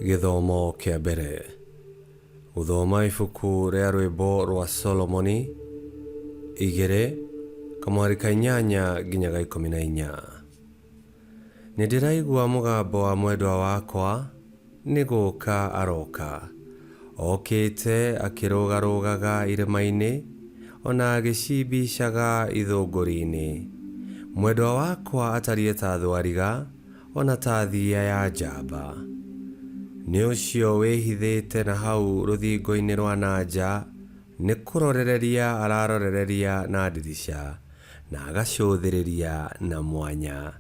Gĩthomo kĩa mbere. Gũthoma ibuku rĩa rwĩmbo rwa Solomoni igĩrĩ kamweri ka inyanya nginya ga ikũmi na inya. Nĩ ndĩraigua mũgambo wa mwendwa wakwa, nĩ gũka aroka. Okĩte akĩrũgarũgaga irĩma-inĩ, o na agĩcimbicaga ithũngũri-inĩ. Mwendwa wakwa atariĩ ta thwariga, o na ta thiiya ya njamba. Nĩ ũcio wĩhithĩte na hau rũthingo-inĩ rwa na nja, Nĩ kũrorereria ararorereria na ndirica, na agacũthĩrĩria na mwanya.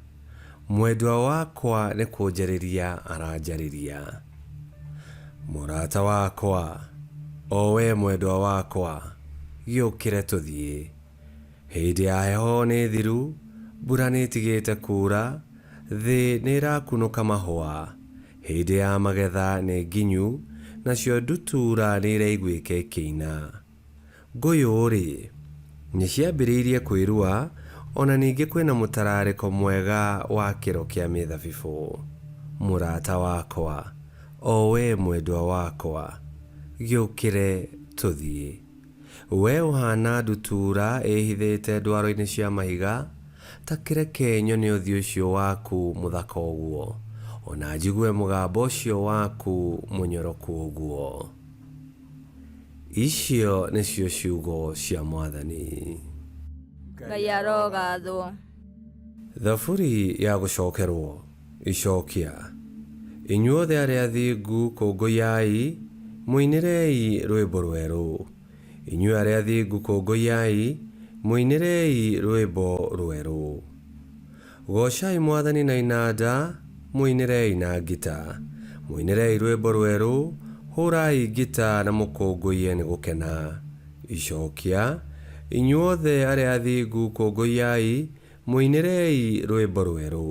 Mwendwa wakwa nĩ kũnjarĩria aranjarĩria. Mũrata wakwa, o wee mwendwa wakwa, gĩũkĩre tũthiĩ. Hĩndĩ ya heho nĩ thiru, mbura nĩ ĩtigĩte kuura, thĩ nĩ ĩrakunũka mahũa. Hĩndĩ ya magetha nĩ nginyu, nacio ndutura nĩiraiguĩka ikĩina. Ngũyũ-rĩ, nĩciambĩrĩirie kwĩrua, o na ningĩ kwĩna mũtararĩko mwega wa kĩro kĩa mĩthabibũ. Mũrata wakwa, o wee mwendwa wakwa, gĩũkĩre tũthiĩ. Wee ũhaana ndutura ĩĩhithĩte ndwaro-inĩ cia mahiga, ta kĩreke nyone ũthiũ ũcio waku mũthaka ũguo, o na njigue mũgambo ũcio waku mũnyoroku ũguo. Icio nĩcio ciugo cia Mwathani. Ngai arogaathwo. Thaburi ya gũcookerwo. Icookia. Inyuothe arĩa athingu kũngũiai, mũinĩrei rwĩmbo rwerũ. Inyuĩ arĩa athingu kũngũiai, mũinĩrei rwĩmbo rwerũ. Goocai mwathani na inanda, mũinĩrei na ngita. Mũinĩrei rwĩmbo rwerũ, hũũrai ngita na mũkũngũiye nĩ gũkena. Icookia. Inyuothe arĩa athingu kũngũiai, Mũinĩrei rwĩmbo rwerũ.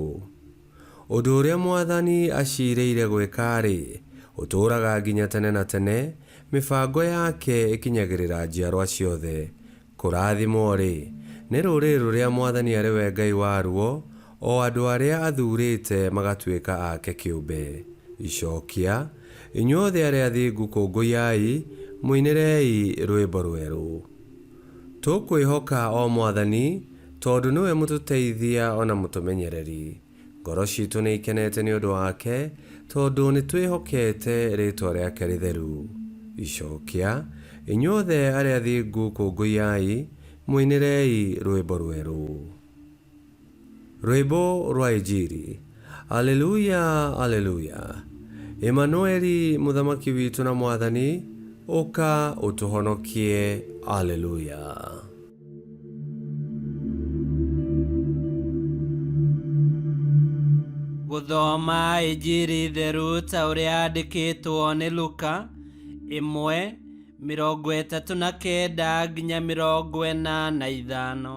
Ũndũ ũrĩa mwathani aciirĩire gwĩka-rĩ, ũtũũraga nginya tene na tene, mĩbango yake ĩkinyagĩrĩra njiarwa ciothe. Kũrathimwo-rĩ, nĩ rũrĩrĩ rũrĩa mwathani arĩ we Ngai waruo, o andũ arĩa athuurĩte magatuĩka ake kĩũmbe. Icookia, inyuothe arĩa athingu kũngũyai, mũinĩrei rwĩmbo rwerũ. Tũkwĩhoka, O Mwathani, tondũ nĩwe mũtũteithia o na mũtũmenyereri. Ngoro ciitũ nĩ ikenete nĩ ũndũ wake, tondũ nĩ twĩhokete rĩĩtwa rĩake rĩtheru. Icookia, Inyuothe arĩa athingu kũngũiyai, mũinĩrei rwĩmbo rwerũ. Rwĩmbo rwa Injiri. Aleluia! Aleluia! Emanueli, Mũthamaki witũ na Mwathani, ũka ũtũhonokie. Aleluia! Gũthoma Injiri theru ta ũrĩa yandĩkĩtwo nĩ Luka, ĩmwe, mĩrongo ĩtatũ na kenda nginya mĩrongo ĩna na ithano.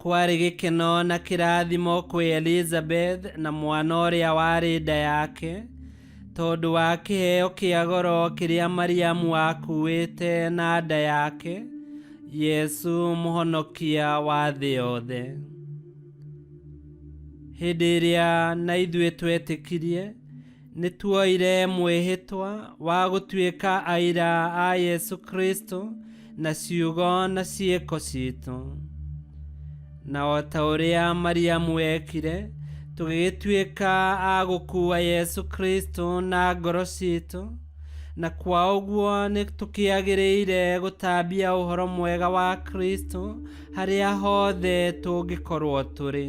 Kwarĩ gĩkeno na kĩrathimo kwĩ Elizabeth na mwana ũrĩa warĩ nda yake, tondũ wa kĩheo kĩa goro kĩrĩa Mariamu aakuĩte na nda yake, Yesu mũhonokia wa thĩ yothe. Hĩndĩ ĩrĩa na ithuĩ twetĩkirie, nĩ tuoire mwĩhĩtwa wa gũtuĩka aira a yesu kristo na ciugo na ciĩko citũ na o ta ũrĩa mariamu ekire tũgĩgĩtuĩka a gũkuua yesu kristo na ngoro citũ na kwa ũguo nĩ tũkĩagĩrĩire gũtambia ũhoro mwega wa kristo harĩa hothe tũngĩkorwo tũrĩ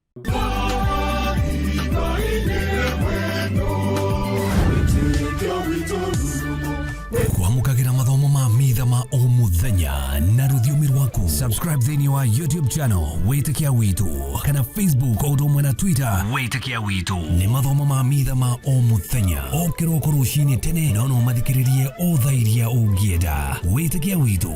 kwamũkagĩra mathomo ma mitha ma o mũthenya na rũthiomi rwaku subscribe thĩinĩ wa youtube channel wĩtĩkia witũ kana facebook o ũndũ ũmwe na twitter wĩtĩkia witũ nĩ mathomo ma mitha ma o mũthenya o kĩroko rũcinĩ tene na no mathikĩrĩrie o thaa iria ũngĩenda wĩtĩkia witũ